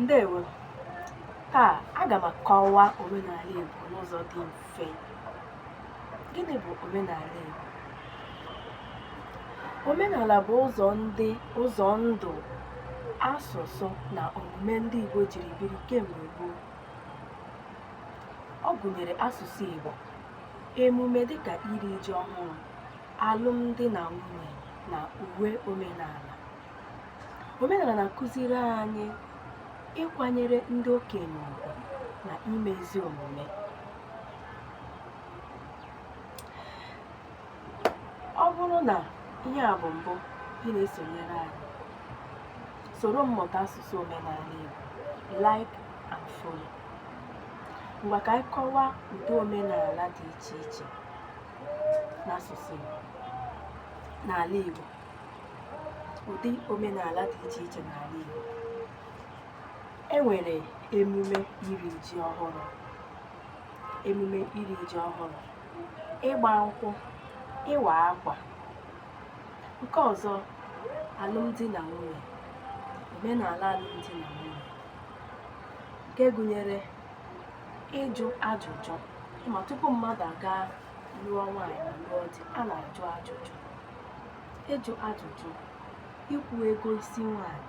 Ndewo. Taa, aga m akọwa omenala Igbo n'ụzọ dị mfe. Gịnị bụ omenala Igbo? Omenala bụ ụzọ ndị ụzọ ndụ, asụsụ na omume ndị Igbo jiri biri kemgbe gboo. Ọ gụnyere asụsụ Igbo, emume dịka iri ji ọhụrụ, alụmdi na nwunye na uwe omenala omenala na-akụziri anyị ịkwanyere ndị okenye ugwu na ime ezi omume ọ bụrụ na ihe a bụ mbụ ị na-esonyere anyị soro m mụta asụsụ omenala Igbo like and follow ngwa ka anyị kọwaa ụdị omenala dị iche iche n'asụsụ Igbo n'ala Igbo ụdị omenala dị iche iche n'ala Igbo e nwere emume iri ji ọhụrụ emume iri ji ọhụrụ ịgba nkwụ ịwa akwa nke ọzọ alụmdi na nwunye omenala alụmdi na nwunye nke gụnyere ịjụ ajụjụ ma tupu mmadụ aga lụọ nwaanyị ma lụọ di a na-ajụ ajụjụ ịjụ ajụjụ ịkwụ ego isi nwaanyị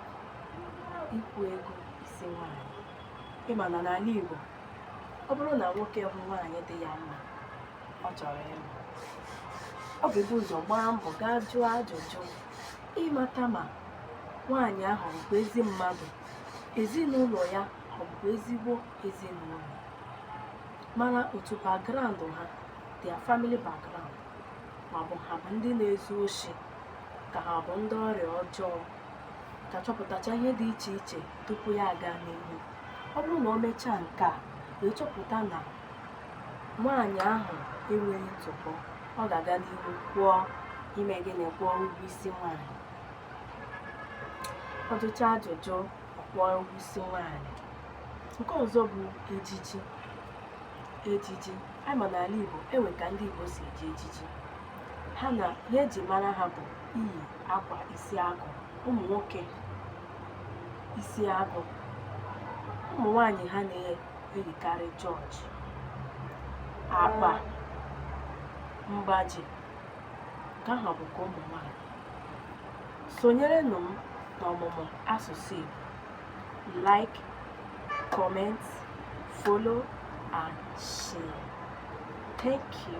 ịkwụ ego isi nwaanyị ị ma na n'ala Igbo ọ bụrụ na nwoke hụ nwaanyị dị ya mma ọ chọrọ ịlụ ọ ga-ebu ụzọ gbaa mbọ gaa jụọ ajụjụ ịmata ma nwaanyị ahụ bụ ezi mmadụ ezinụlọ ya ọ bụ ezigbo ezinụlọ mara otu background ha their family background ma ọ bụ ha bụ ndị na-ezu oshi ka ha bụ ndị ọrịa ọjọọ ka chọpụtacha ihe dị iche iche tupu ya aga n'ihu ọ bụrụ na o mechaa nke a wee chọpụta na nwaanyị ahụ enweghị ntụpọ ọ ga-aga n'ihu kwụọ ime gịnị kwụọ ụgwọ isi nwaanyị ọ jụchaa ajụjụ ọ kwụọ ụgwọ isi nwaanyị nke ọzọ bụ ejiji ejiji anyị ma n'ala Igbo e nwe ka ndị Igbo si eji ejiji ha na ihe e ji mara ha bụ iyi akwa isi agụ ụmụ nwoke isi agụ ụmụ nwanyị ha na-eyikarị jọọjị akpa mgbaji nke ahụ bụ ka ụmụ nwaanyị sonyerenụ m n'ọmụmụ asụsụ Igbo like comment follow and share thank you